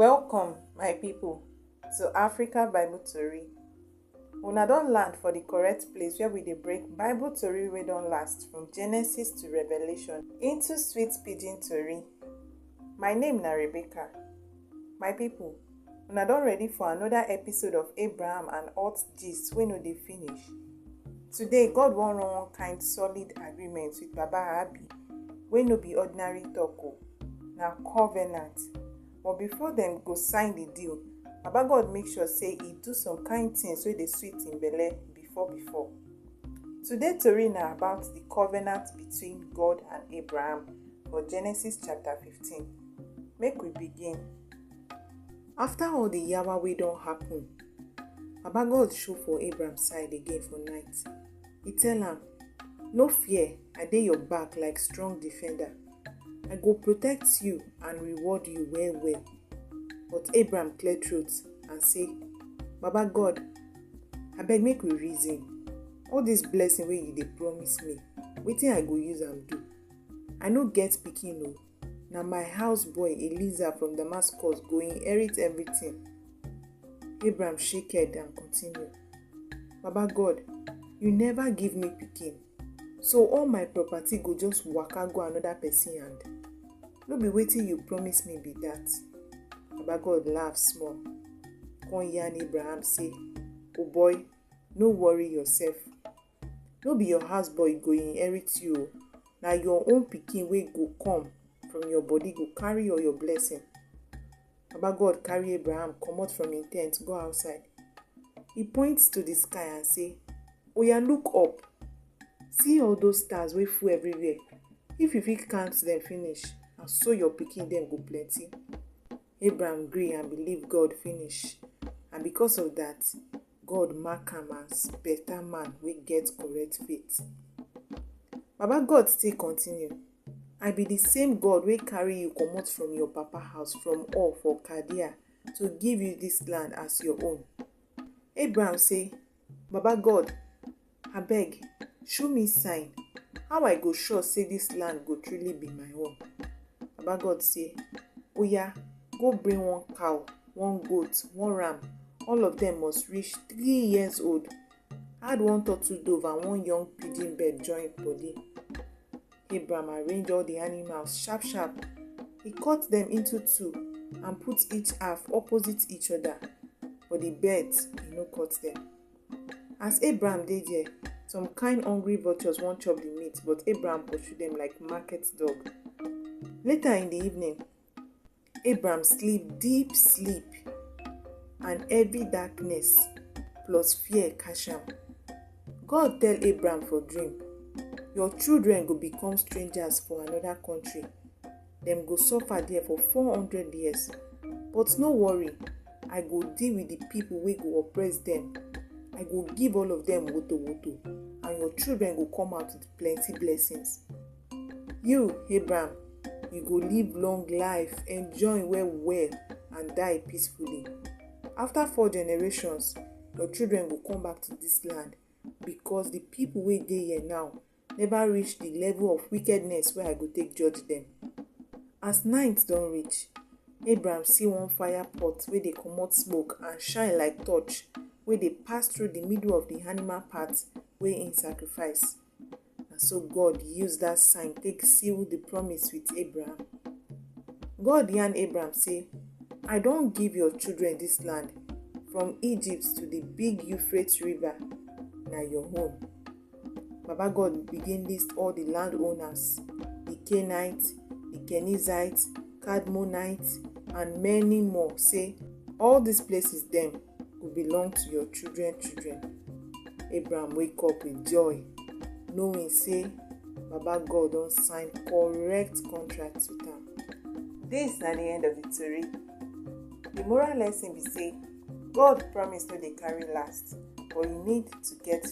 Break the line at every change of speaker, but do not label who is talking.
Welcome, my people, to Africa Bible Tori. Una don land for the correct place where we dey break Bible tori wey don last from Genesis to Revelation into sweet pidgin tori. My name na Rebecca. My people, Una don ready for another episode of Abraham and Alt Gist wey no dey finish. Today, God wan run one kind solid agreement with Baba Abi wey no be ordinary talk o, na covenant. But before dem go sign the deal, Baba God make sure say e do some kind things wey dey sweet im belle before before. Today tori na about the covenant between God and Abraham for Genesis chapter 15. Make we begin. After all the yawa wey don happen, Baba God show for Abraham side again for night. He tell am, No fear, I dey your back like strong defender. I go protect you and reward you well well. But Abraham clear throat and say, Baba God, abeg make we reason. All this blessing wey you dey promise me, wetin I go use am do? I no get pikin o. Na my house boy Eliza from Damascus go inherit everything. Abraham shake head and continue. Baba God, you never give me pikin. So all my property go just waka go another person hand. No be wetin you promise me be that. Baba God laugh small. Come yarn Abraham say, Oh boy, no worry yourself. no be your house boy go inherit you o na your own pikin wey go come from your body go carry all your blessing baba god carry abraham comot from him tent go outside he point to the sky and say oya look up see all those stars wey full everywhere if you fit count them finish na so your pikin dem go plenty Abraham gree and believe God finish and because of that, God mark am as better man wey get correct faith. Baba God still continue, I be the same God wey carry you comot from your papa house from Ur for Chaldean to give you this land as your own. Abraham say, Baba God, Abeg, show me sign how I go sure say this land go truly be my own. Baba God say, Oya, go bring one cow, one goat, one ram. All of them must reach three years old. Add one turtle dove and one young pigeon bird join body. Abraham arrange all the animals sharp sharp. He cut them into two and put each half opposite each other. But the birds, he no cut them. As Abraham dey there, some kind hungry vultures wan chop the meat, but Abraham pursue them like market dog. Later in the evening, Abraham sleep deep sleep and heavy darkness plus fear catch am. God tell Abraham for dream, Your children go become strangers for another country. dem go suffer there for four hundred years but no worry i go deal with the people wey go oppress dem i go give all of dem woto woto and your children go come out with plenty blessings you abraham you go live long life enjoy well well and die peacefully after four generations your children go come back to this land because the people wey dey here now never reach the level of wickedness wey I go take judge them. As night don reach, Abraham see one fire pot wey dey comot smoke and shine like torch wey dey pass through the middle of the animal part wey im sacrifice. Na so God use that sign take seal the promise with Abraham. God yarn Abraham say, I don give your children this land from Egypt to the big Euphrates river, na your own. Baba God begin list all the landowners, the Canaanites, the Kenizzites, Kadmonites, and many more. Say, all these places them will belong to your children, children. Abraham wake up with joy, knowing say Baba God don sign correct contract with am. This na the end of the tori. The moral lesson be say God promise no dey carry last, but you need to get